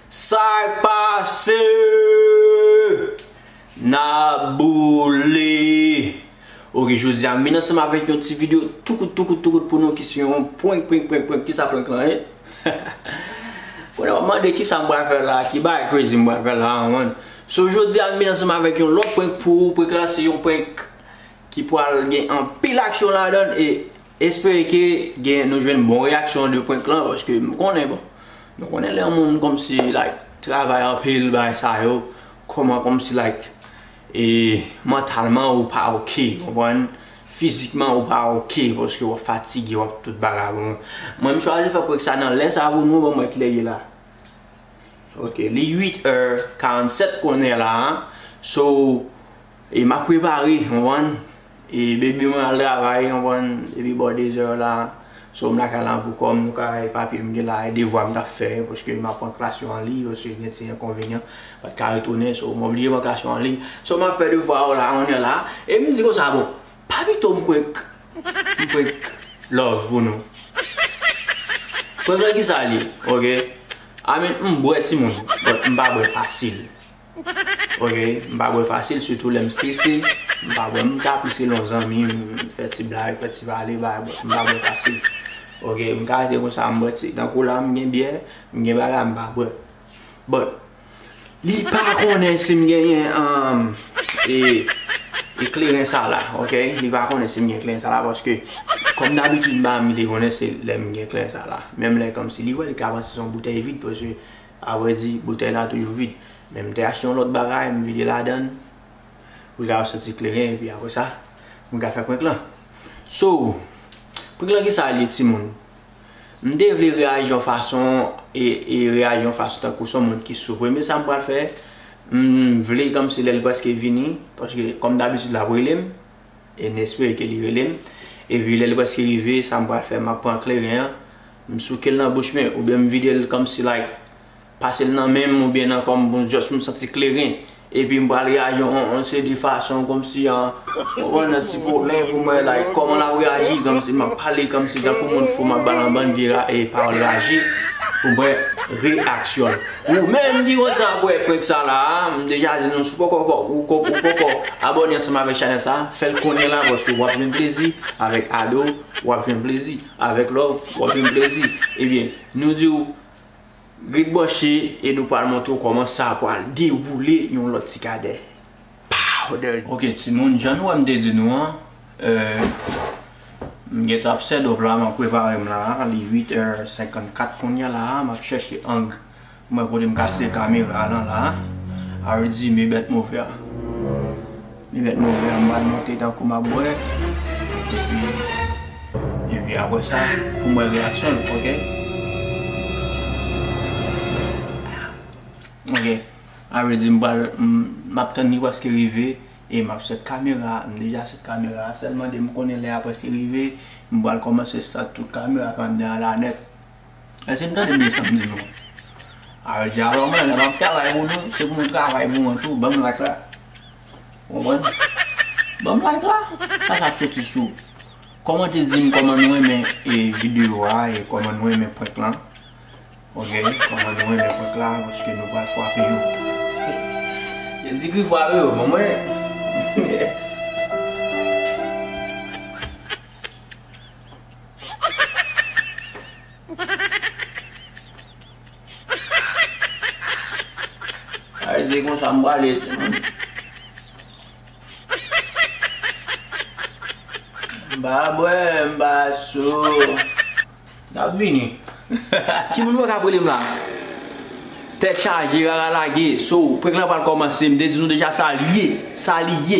Sak pase Nan boule Ok jodi a m vin ansanm avèk yon ti video tou kout tou kout tou kout pou nou ki se yon prank prank prank prank kisa prank lan ye Konnen w ap mande kisa m pral fè la ki bagay crazy m pral fè la an man So jodia m vin ansanm avèk yon lòt prank pou ou, prank la se yon prank ki pral gen anpil aksyon ladann e espere ke gen nou jwenn bon reyaksyon de prank lan paske m konnen bon nou konnen lè yon moun kòmsi like travay anpil bagay sa yo kòman kòmsi like e mantalman ou pa ok konprann fizikman ou pa ok paske wap fatige wap tout bagay mwen m chwazi fè prank sa nan lè sa pou nou banm wè kilè ye la. Ok li 8 heure 47 kounye la so e map prepare ou konprann e baby mwen al travay ou konprann depi bò 2 heure la so m lakay la pou kòm nou ka e papye m gen la e devwa m tap fè paske map pran klas yo an liy paske gen ti enkonvenyan pat ka retounen so m oblije pran klas yo an liy so map fè devwa yo la kounye la e m di konsa bon Pa pito m prank m prank love pou nou Prank lan kisa l ye ok I mean m bwè timoun but m pa bwè fasil ok m pa bwè fasil sitou lè m strese m pa bwè m ka pise lon zanmi m fè ti blag fè ti pale bay but m pa bwè fasil ok m ka rete konsa m bwè ti tankou la m gen byè m gen bagay m pa bwè. But li pa konnen sim genyen e kleren sa la ok li pa konnen sim gen kleren sa la paske kòm dabitid madam li te konnen se lèm gen kleren sa la menm lè kòmsi li wè li ka panse son boutèy vid paske a vrè di boutèy la toujou vid men m te achte yon lòt bagay m vide ladann pou l ka soti kleren epi aprè sa m ka fè prank lan so prank lan kisa l ye timoun. M te vle reyaji yon fason e reyaji yon fason tankou son moun ki soufri men sa m pral fè m vle kòmsi lè l prèske vini paske kòm dabitid l ap rele m e n espere ke li rele m epi lè l prèske rive sa m pral fè m ap pran kleren an m souke l nan bouch mwen oubyen m vide l kòmsi like Pase l nan men m oubyen nan kò m pou m just m santi kleren epi m pral reyaji yon seri de fason kòmsi yon nan ti pwoblèm pou mwen like kòman l ap reyaji kòmsi m ap pale kòmsi tankou moun fou m ap ba l yon bann vye pawòl raje pou mwen reyaksyon l. Ou menm ki kontan ap wè prank sa la a m deja di nou si w poko ou poko abòne ansanm avèk chanèl sa a fè l kounye la paske w ap jwenn plezi avèk ado w ap jwenn plezi avèk love w ap jwenn plezi ebyen nou di w. Ret branche e nou pral montre w kòman sa pral dewoule yon lòt ti kadè. Powder! Ok timoun jan nou wè m te di nou an m gentan ap sèdòp la m ap prepare m la li 8 è 54 kounya la m ap chèche ang pou m wè kote m ka sere kamera lan la a ridzi me bèt move a. Li met move an m pral monte tankou map bwè epi epi apre sa poum wè reyaksyon l ok ok a vle di m pral map tann li prèske rive e map sèt kamera m deja sèt kamera a sèlman de m konnen lè a prèske rive m pral kòmanse sèt tout kamera k anndan an la nèt. Èske n tande menm sa m di nou an? Harold di, Alò mwen, lè m ap travay pou nou, se pou nou travay pou mwen tou, ban m like la. Ou konprann? Ban m like la. Sa sa ap soti sou kòmante di m kòman nou renmen videyo a e kòman nou renmen prank lan. Ok, kòman nou renmen prank la paske nou pral fwape yo. Jezikri fwape yo pou mwen. Ay se konsa m prale timoun. M pa bwè m pa sou. N ap vini. Timoun mwen k ap rele m la. Tèt chaje rara lage. So prank lan pral kòmanse m te di nou deja sa l ye. Sa li ye.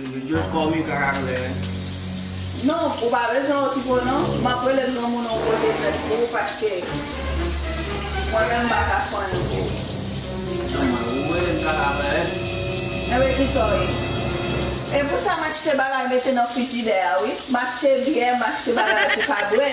Yo just call me kaka koulè men. Non ou pa bezwen yon ti po non map rele granmoun yon kote nèt pou ou paske mwen menm m paka fann yon po. Nan mwen ou rele m kaka koulè. Enben kisa w ye? Epousa m achte bagay mete nan frijidè a wi. M achte byè, m achte bagay pou ka bwè.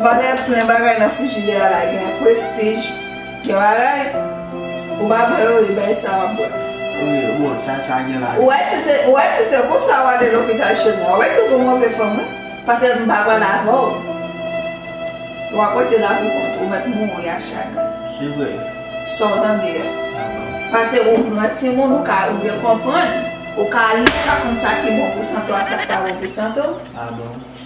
Valè plen bagay nan frijidè a la gen prestij, gen bagay ou pa bwè yo li bay sa wap bwè. Ou wè si se ou wè si se pou sa wale lopital chèn nan. Ou wè tout ou move fanm wi. Pase m pa pral avè w. Wap rete la pou kont ou mèt mouri ak chagren. Se vre. Sa w tande a. Pase ou gran timoun ou ka ou gen konprann. Ou ka li ou ka konn sa ki bon pou sante w ak sa ki pa bon pou sante w.